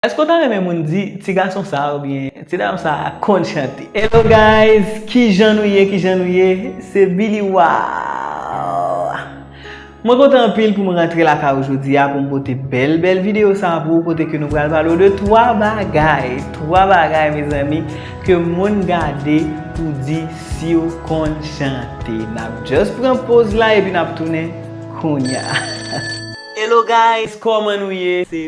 Eske ou ta renmen moun di ti gason sa a oubyen ti dam sa a konn chante? Hello guys kijan nou ye kijan nou ye se Billy waww mwen kontan anpil pou m rantre lakay ou jodi a pou m pote bèl bèl video sa a pou ou kote ke nou pral pale ou de 3 bagay 3 bagay mezanmi ke moun gade pou di siw konn chante nap just pran poz la epi nap tounen kounya. Hello guys kòman nou ye se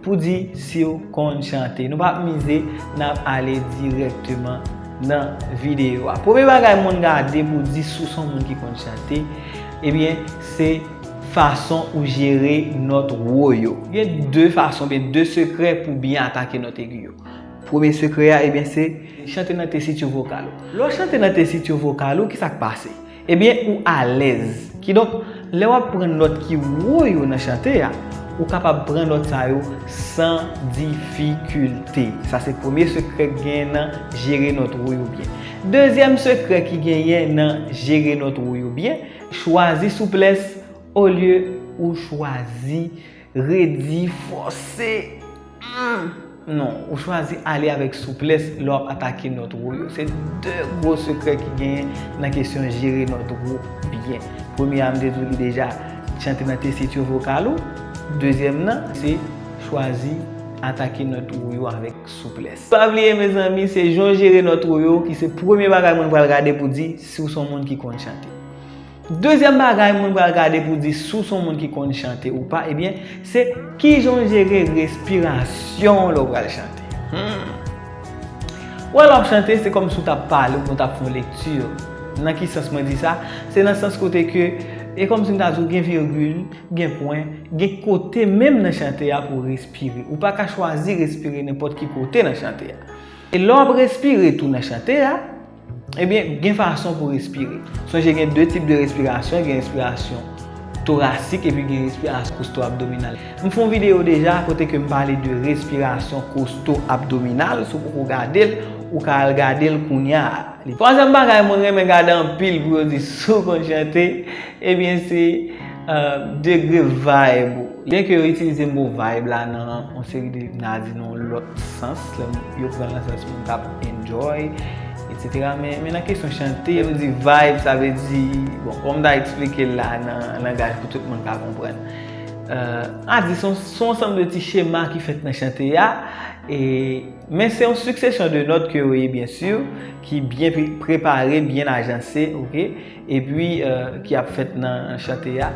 Pou di siw konn chante. Nou pap mize nap ale direkteman nan video a. Premye bagay moun gade pou di si w son moun ki konn chante ebyen se fason ou jere nòt wo yo. Gen 2 fason oubyen 2 sekrè pou byen atake nòt egi yo. Premye sekrè a ebyen se chante nan tesitu vokal ou. Lè w chante nan tesitu vokal ou kisa k pase? Ebyen ou alèz. Kidonk, lè wap pran nòt ki wo yo nan chante a, ou kapab pran nòt sa yo san difikilte. Sa se premye sekrè ki genyen nan jere nòt wo yo byen. Dezyèm sekrè ki genyen nan jere nòt wo yo byen, chwazi souplès olye ou chwazi Redi, fòse, humm! Non, ou chwazi ale avèk souplès lè wap atake nòt wo yo. Se 2 gwo sekrè ki genyen nan kesyon jere nòt wo byen. Premye a m te di w li deja, chante nan tesitur vokal ou. Dezyèm nan, se chwazi atake nòt wo yo avèk souplès. Pa bliye mezanmi, se jan w jere nòt wo yo ki se premye bagay moun pral gade pou di si w se yon moun ki konn chante. Dezyèm bagay mwen pral gade pou di si w son moun ki konn chante ou pa ebyen se kijan w jere respirasyon w lè w pral chante. Wè lè w ap chante se kòmsi w t ap pale ou byen w t ap fè yon lekti. Nan ki sans mwen di sa? Se nan sans kote ke e kòmsi m ta di w gen virgil, gen pwen, gen kote menm nan chante a pou w respire. Ou pa ka chwazi respire nenpòt ki kote nan chante a. E lè w ap respire tou nan chante a. Ebyen, gen fason pou respire. Sonje gen 2 tip de respirasyon, gen respirasyon torasik epi gen respirasyon kosto-abdominal. M fon videyo deja kote ke m pale de respirasyon kosto-abdominal, si w poko gade l, ou ka al gade l kounya a. Twazyèm bagay mwen renmen gade anpil pou yo di si w konn chante, ebyen se degre vibe ou. Byen ke yo itilize mo vibe la nan yon seri de, m ta di nan yon lòt sans, lè yo pran l nan sans moun k ap enjoy, etc. Men nan kesyon chante, lè nou di vibe, sa vle di, bon, kòman m ta eksplike l la nan langaj pou tout moun ka konprann? M ta di se yon ansanm de ti chema ki fèt nan chante a, men se yon siksesyon de nòt ke yo ye byen si, ki byen prepare, byen ajanse, ok? epi ki ap fèt nan chante a,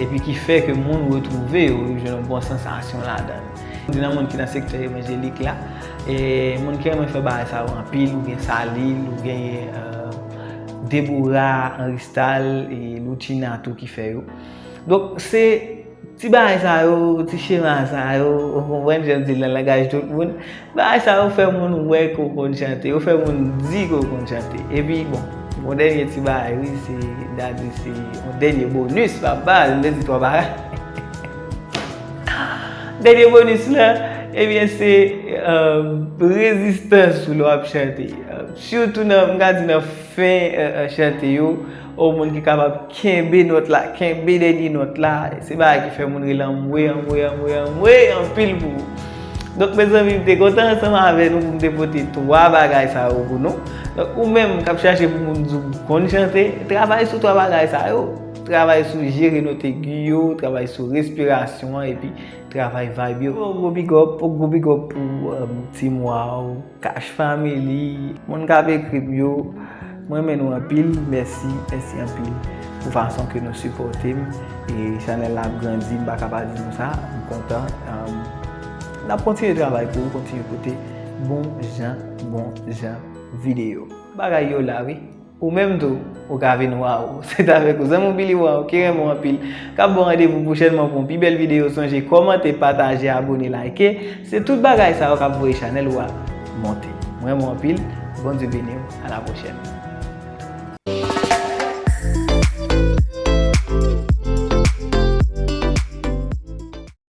epi ki fè ke moun retwouve yo, yo jwenn yon bon sansasyon ladan l. Mwen di nan moun ki nan sektè evanjelik la, moun ki renmen fè bagay sa yo anpil, ou gen Salil, ou genyen Debora, Anristal, e Loutchina tou ki fè yo. Donk se. Ti bagay sa yo, ti chema sa yo, ou konprann jan di l nan langaj tout moun, bagay sa yo fè moun wè ke w konn chante, yo fè moun di ke w konn chante. Epi bon, yon dènye ti bagay wi, se, m ta di se yon dènye bonus, pa baz, m te di twò bagay. Dènye bonus la, ebyen se rezistans ou lè w ap chante. Sitou nan, m ka di nan fen chante yo. Oh moun ki kapab kenbe nòt la kenbe dènye nòt la se bagay ki fè moun rele anmwee anmwee anmwee anmwee anpil pou ou donk mezanmi m te kontan ansanm avè nou pou m te pote 3 bagay sa yo pou nou donk ou menm kap chache pou moun di w konn chante travay sou 3 bagay sa yo travay sou jere nòt egi yo travay sou respirasyon an epi travay vayb yo yon gwo bigòp yon gwo bigòp pou team waw. Cash family moun kap ekrm yo m renmen nou anpil mèsi mèsi anpil pou fason ke nou sipòtem e chanèl la ap grandi m paka pa di nou sa m kontan nap kontinye travay pou ou kontinye pote bon jan bon jan video bagay yo la wi. Ou menm tou, ou ka vin waww! Se t avèk ou, zanmi w Billy Waww ki renmen w anpil, k ap ba w randevou pwochènman pou yon pi bèl videyo. Sonje kòmante, pataje, abone, layke. Se tout bagay sa yo k ap voye chanèl ou a monte. M renmen w anpil. Bondye beni w. A la pwochèn.